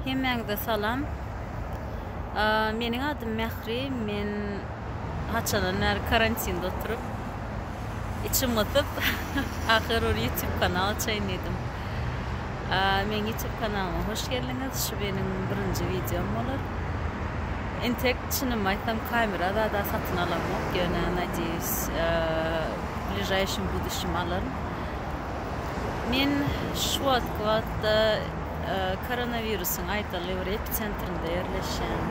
Hemmäňize salam. Meniň adym Mähri. Men haçandan bäri karantinde oturyp, içim gysyp, ahyr bir YouTube kanal açaýyn diýdim. Meniň YouTube kanalyma hoş geldiňiz. Şu meniň birinji wideom bolar. Entek çynymy aýtsam, kamera zada satyn alamok, ýöne, nadýeýuś, w bližaýşim buduşim alaryn. Men şu wagtky wagtda koronawirusyň aýdaly bir episentrinde ýerleşýän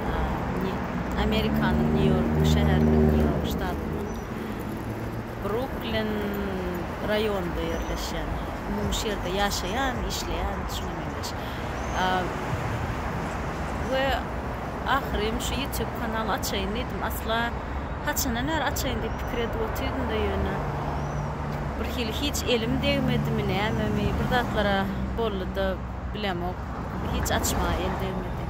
Amerikanyň Nýu-Ýork şäheriniň, Nýu-Ýork ştatynyň Bruklin raýonynda ýerleşýän, umumy şu ýerde ýaşaýan, işleýän, şuňa meňzeş. We ahyrym şu ýutýub kanaly açaýyn diýdim. Asla. Haçandan bäri açaýyn diýip pikir edip otyryn-da ýöne, birhili hiç elim degmedimi, nämemi, bir zatlar-a boldy-da, bilemok, hiç açmaga el degmedi.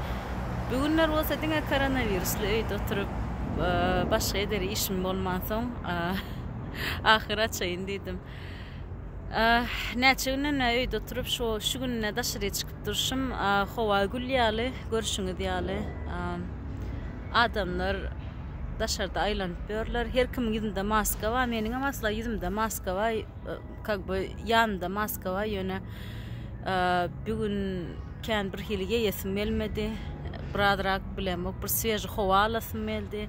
Bu günler bolsa diňe koronawirusly öýde oturyp, başga eder işim bolmansoň, ahyr açaýyn diýdim. Näçe günden bäri öýde oturyp, şu gününe daşaryk çykyp, Durşum howa gül ýaly, görşüňiz ýaly, adamlar daşarda aýlanyp ýörler. Her kimiň ýüzünde maska bar, meniňem asla ýüzümde maska bar, kak be ýanymda maska bar, ýöne bu gün kän birhili geýesim gelmedi. Biraz rak bilemok, bir sweži howa alasym geldi.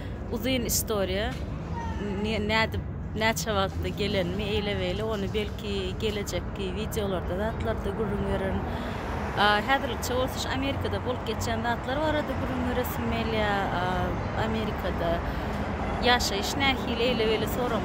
Uzyn istoriýa. Nädip, näçe wagtda gelenimi eýle-beýle ony belki gelejekki wideolarda zatlarda gürrüň bererin. Häzirlikçe bolsa şu Amerikada bolup geçýän zatlar barada gürrüň beresim gelýär. Amerikada ýaşaýyş nähili eýle-beýle sorag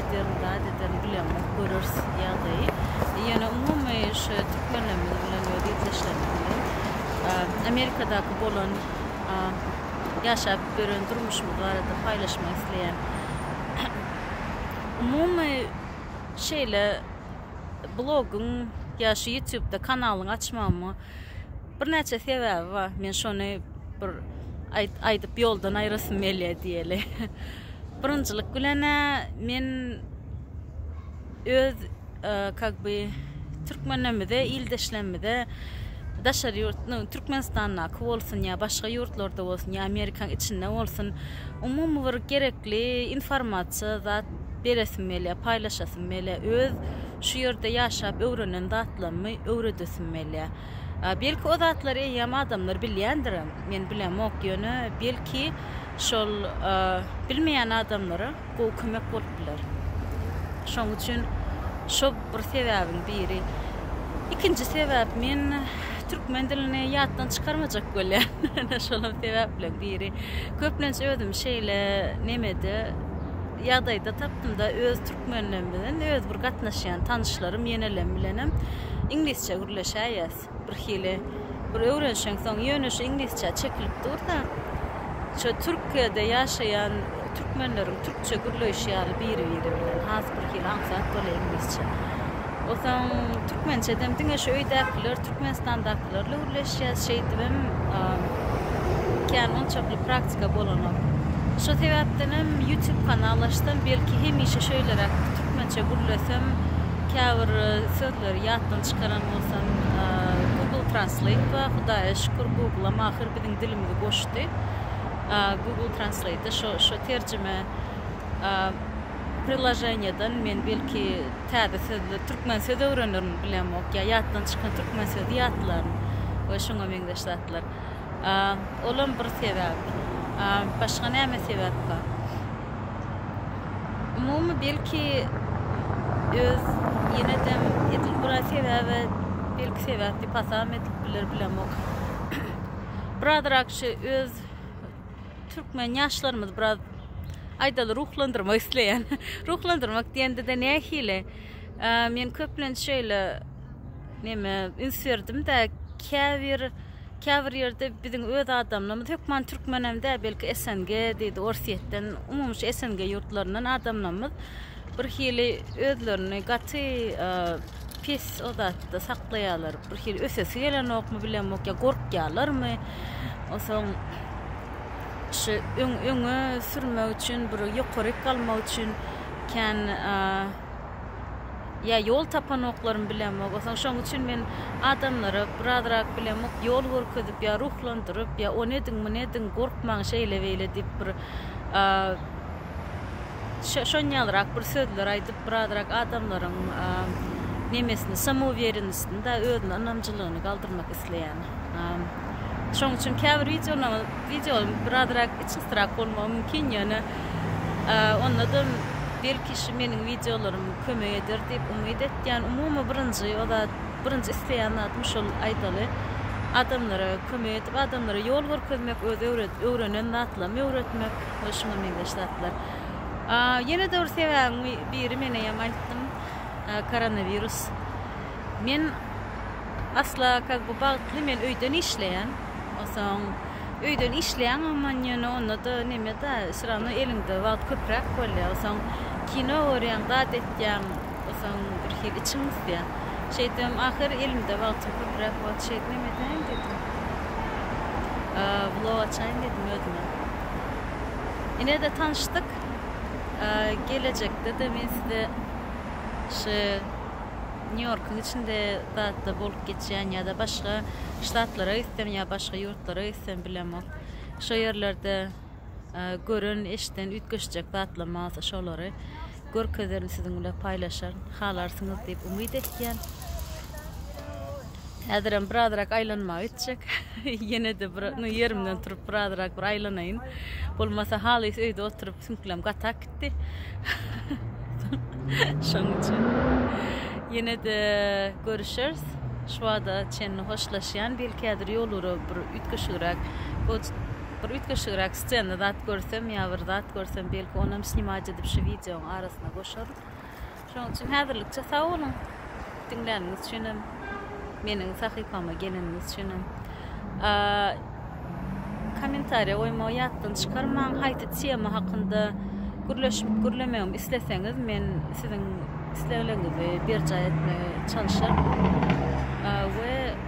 ederin zat ederin bilemok göreris ýagdaýy ýöne umumy şu türkmenlerimiz bilen öz ildeşlerimiz bilen amerikadaky bolan ýaşap gören durmuşymyz barada paýlaşmak isleýän umumy şeýle blogyň ýa şu ýutubda kanalyň açmama birnäçe sebäbi bar men şony bir aýdyp ýoldan aýyrasym gelýär diýeli. Birinjilik bilen men öz kak by türkmenlerimize ildeşlerimize daşary ýurt nu türkmenistandaky bolsun ýa başga ýurtlarda bolsun ýa amerikaň içinde bolsun umumy bir gerekli informasiýa zat beresim gelýär paýlaşasym gelýär öz şu ýerde ýaşap öwrenen zatlarymy öwredesim gelýär Belki o zatlary eýýäm adamlar bilýändirem, men bilemok, ýöne belki şol bilmeýän adamlara gowy kömek bolup biler. Şoň üçin şo bir sebäbiň biri. Ikinji sebäp men türkmen dilini ýatdan çykarmajak bolýan. Ene şolam sebäpleriň biri. Köplenç özümi şeýle nemede ýagdaýda tapdymda öz türkmenlerimden öz bir gatnaşýan tanyşlarym ýenelem bilenem. iňlisçe gürleşäýýäs. Birhili bir öwrenişeňsoň, ýöne şu iňlisçä çekilip dur-da, şu Türkiýede ýaşaýan türkmenleriň türkçe gürleýşi ýaly biri-biri bilen, has birhili aňsat bolýar iňlisçe. Onsoň türkmençedem diňe şu öýdäkiler, Türkmenistandaky. Ýaşlarla gürleşýäs şeýdibem kän onçakly praktika bolanok. Şo sebäpdenem ýutub kanal açdym, belki hemişe şeýleräk türkmençe gürlesem, käbir sözleri ýatdan çykaran bolsam, Google Translate bar, Hudaýa şükür Google-am ahyr biziň dilimizi goşdy. Google Translate-de şo terjime priloženiýeden men belki Täze sözler, türkmen söz öwrenerin, bilemok, ýa ýatdan çykan türkmen sözi ýatlaryn we şuňa meňzeş zatlar. Olam bir sebäp. Başga näme sebäp bar? Umumy belki öz ýenedem edil bir sebäbe belki sebäp diýip hasam edip biler, bilemok. Birazrak şu öz Türkmen ýaşlarymyz biraz aýdaly ruhlandyrmak isleýän. Ruhlandyrmak diýende-de nähili? Men köplenç şeýle neme üns berdim-de, käbir käbir ýerde biziň öz adamlarymyz hökman türkmen hem däl, belki SNG diýdi, Orsýetden, umumy şu SNG ýurtlaryndan adamlarymyz birhili özlerini gaty Pes o zatda saklaýarlar. Bir hili ösesi gelenokmy bilemok ýa gorkýarlarmy. Onsoň şu öň öňe sürmek üçin bir ýokaryk galmak üçin kän ýa ýol tapanoklarymy bilemok. Onsoň şoň üçin men adamlara birazrak bilemok ýol görkezip ýa ruhlandyryp ýa ony ediň muny ediň gorkmaň şeýle beýle diýip bir şonýalrak bir sözler aýdyp birazrak adamlaryň nemesini samouwerenostini da özüne ynamjylygyny galdyrmak isleýän. Şoň üçin käbir wideolaryň birazrak içgysrak bolmagy mümkin ýöne onda-da belki şu meniň wideolarym kömek eder diýip umyt etýän. Umumy birinji o zat birinji isleýän zadym şol aýdaly adamlara kömek edip adamlara ýol görkezmek öz öwrenen zatlarymy öwretmek. we şuňa meňzeş zatlar. Ýene de bir sebäbiň biri men eýýäm aýtdym, koronawirus. Men asla kak bu bagtly men öýden işleýän. Onsoň öýden işleýän aman ýöne onda da neme-de, şurany eliňde wagt köpräk bolýar. Onsoň kino görýäň, zat etýäň. Soň birhili içiň gysýar. Şeýtibem ahyr elimde wagtym köpräk boldy. Şeýdip hem edäýin diýdim. Blog açaýyn diýdim özüme. Ine-de tanyşdyk. Gelejekde-de men size şu Nýu-Ýorkuň içinde zat-da bolup geçýän ýa-da başga ştatlara gitsem ýa başga ýurtlara gitsem bilemok. Şo ýerlerde Gören eşiden üýtgeşjek zatlam bolsa şolary görkezerin siziň bilen paýlaşan halarsyňyz diýip umyt etýän. Häzirem birazrak aýlanmaga gitjek. Ýene-de bir nu ýerimden turup birazrak bir aýlanaýyn. Bolmasa halys öýde oturyp süňklem gatak gitdi. Şonuň üçin ýene-de görüşeris. Şu wada çenli hoşlaşýan. Belki häzir ýol urup bir üýtgeşigräk Bir üýtgeşigräk scenada zat görsem ýa bir zat görsem belki onam snimaj edip şu wideoň arasyna goşaryn. Şoň üçin häzirlikçe sag boluň. Diňläniňiz üçinem, meniň sahypama geleniňiz üçinem. Kommentariýa goýmagy ýatdan çykarmaň. Haýsy tema hakynda gürleşip gürlemegimi isleseňiz men siziň islegleriňizi berjaý etmegi çalyşaryn. We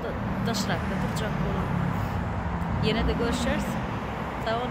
wagtda daşrakda durjak boluň. Ýene-de görüşeris. Sag boluň.